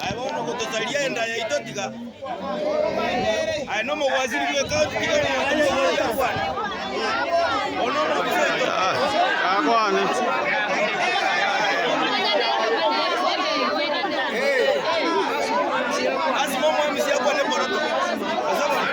Aye bono gotosaria enda yaito tiga. Aye nomogwasiri bweka tiga nomogwasiri akwane. Ono omobisaito. Akwane. Asima omwami siakwane boroto. Asabone.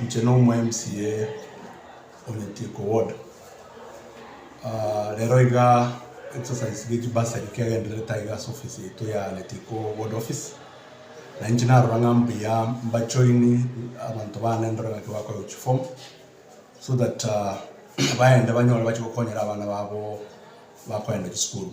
Inche nomo MCA o Nyatieko ward, rero iga exercise ye chibasari kegendererete aiga ase office yaito ya Nyatieko ward office, na inche narora ng'a mbuya mba join abanto bane ndore naki bakorerwa chiform, so that baende banyore bache gokonyera abana babo bakoenda chisukuru.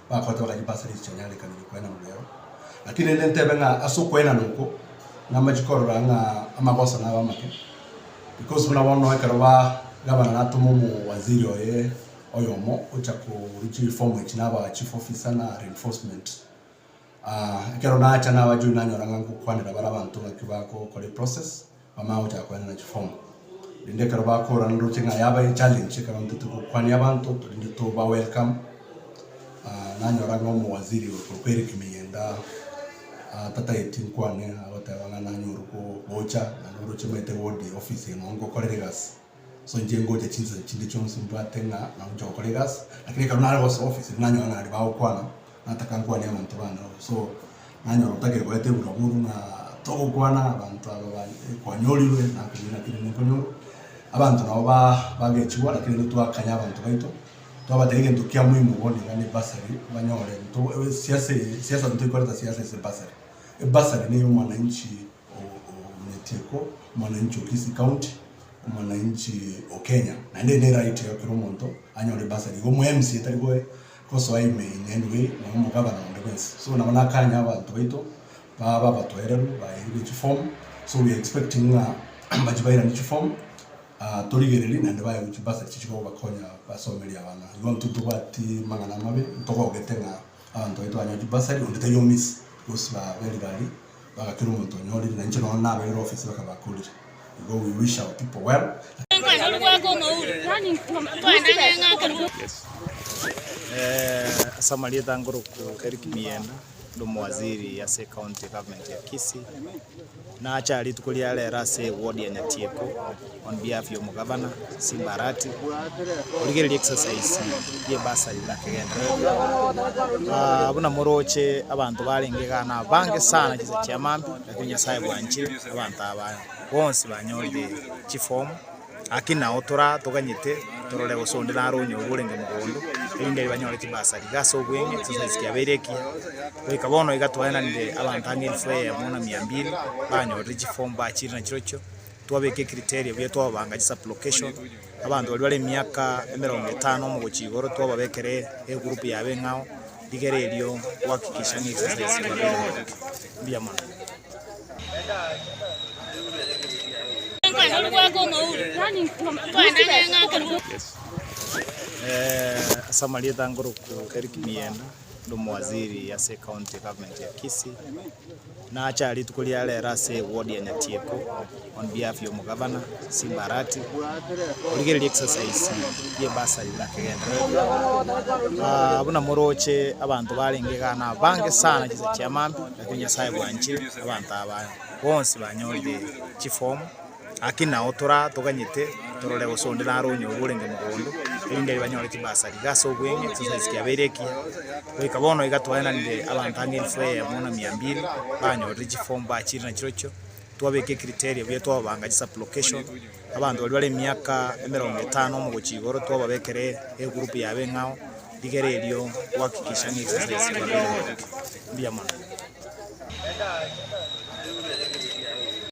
bakorete bakachi basare echichanyarikaniri kwenana nero. Lakini rende ntebe ng'a ase okwenana oko namache korora ng'a amagoso nabe amake, because buna bono ekero ba gavana natoma omowaziri oye oyomo gocha korwa chireform echi na aba chief officer na reinforcement, ekero nacha nabache oyio nanyora ng'a ngokwanera bare abanto ng'aki bagokora eprocess. Bamanye gochaka koenana chiform rende ekero bakorana ndoche ng'a yaba echallenge ekero ntete gokwania abanto rende toba welcome nanyora ng'a omowaziri ore korokwa Eric Miyenda atatageti nkwane agoteba ng'a nanyorwe gocha naende oroche omanyete wodi office eye nonye nkokorera egasi. So inche ngocha chinsa chinde chionsi mbwate ng'a nagocha gokora egasi, lakini ekero nare gosoa office nanyora ng'a naende bagokwana, nataka nkwane abanto bande abwo. So nanyora otagire goeta eburaburu ng'a togokwana abanto aba ba kwanyorirwe nakoigwera ng'a keri nkonyorwe. Abanto nabo ba bagechigwa lakini intwe twakanya abanto baito, twabatebia egento kia moimo bono iga ne bursary banyore ntoo siase siasa ntoikoreta siasa ase bursary. Ebursary neye omwananchi Omwetieko, Mwananchi o Kisii County, Omwananchi o Kenya, naende eye ne right ya kera omonto anyore bursary iga omo mca tari goe gosoa ime in any way nonya omogabana onde bwensi so nabo nakanya abanto baito babe abatoereru baeirwe chi form so we are expecting ng'a mbache bairane chi form torigererie naende baewe chi bursary chichi kobakonya basomerie abana igo ntotobwati mang'ana amabe ntogogete ng'a. Abanto baito banyoa chibasari, onde tari omisi, bonsi babeire baria, bagakera omonto onyorire, na inche nonya nabeire ofisi bakabakorire, igo we wish our people well. Ase amarieta ngoroku Eric Mienda, ore omowaziri ase ecounty government ya Kisii. Nache aa rituko ria rero ase ewodi ya Nyatieko on behalf ya omogavana Simbarati origereria exercise ye bursary na kegendererwa aah buna moroche abanto barenge igaa na abange sana chinsa chiamambe lakini Nyasaye bwanchire abanto aba bonsi banyorire chiform Gaki nao tore atoganyete torore gose onde naro onyoru orenge mogondo, erinde aye banyore chibasa riga ase obweng'e exercise kiabeire ekiya. Goika bono iga twaenanire abanto ang'e elfu eyemo na mia mbili banyorire chiform bachire nachirochio, twabeka ecriteria buya twababanga chisublocation, abanto baria bare emiaka emerongo etano omogochia igoro twababekera egroup ya abeng'ao rigere erio gohakikisha ng'a exercise yabeire mbuya mono. Ase amarieta ange oroku Eric Mienda, inde omowaziri ase ecounty government ya Kisii, nache rituko ria rero ase eward ya Nyatieko. On behalf y'omogabana Simbarati origereria exercise y'ebasari buna kegendererwa buna moroche abanto barenge igaa na abange sana chisa chia maambi lakini Nyasaye bwanchire abanto aba bonsi banyorire chi form gaki nao tore toganyete torore gose onde naro onyore orenge mogondo erinde aye banyore chibasari iga ase obweng'e exercise kiabeire ekiya goika bono iga twaenanire abanto ang'e elfu eyemo na mia mbiri banyorire chi form bachiire na chirochio. twabeke criteria buya twababanga chisublocation, abanto baria bare emiaka emerongo etano omogochia igoro twababekere egroup ya abeng'ao rigere erio gohakikisha ng'a exercise eye yabeire mbuya mono.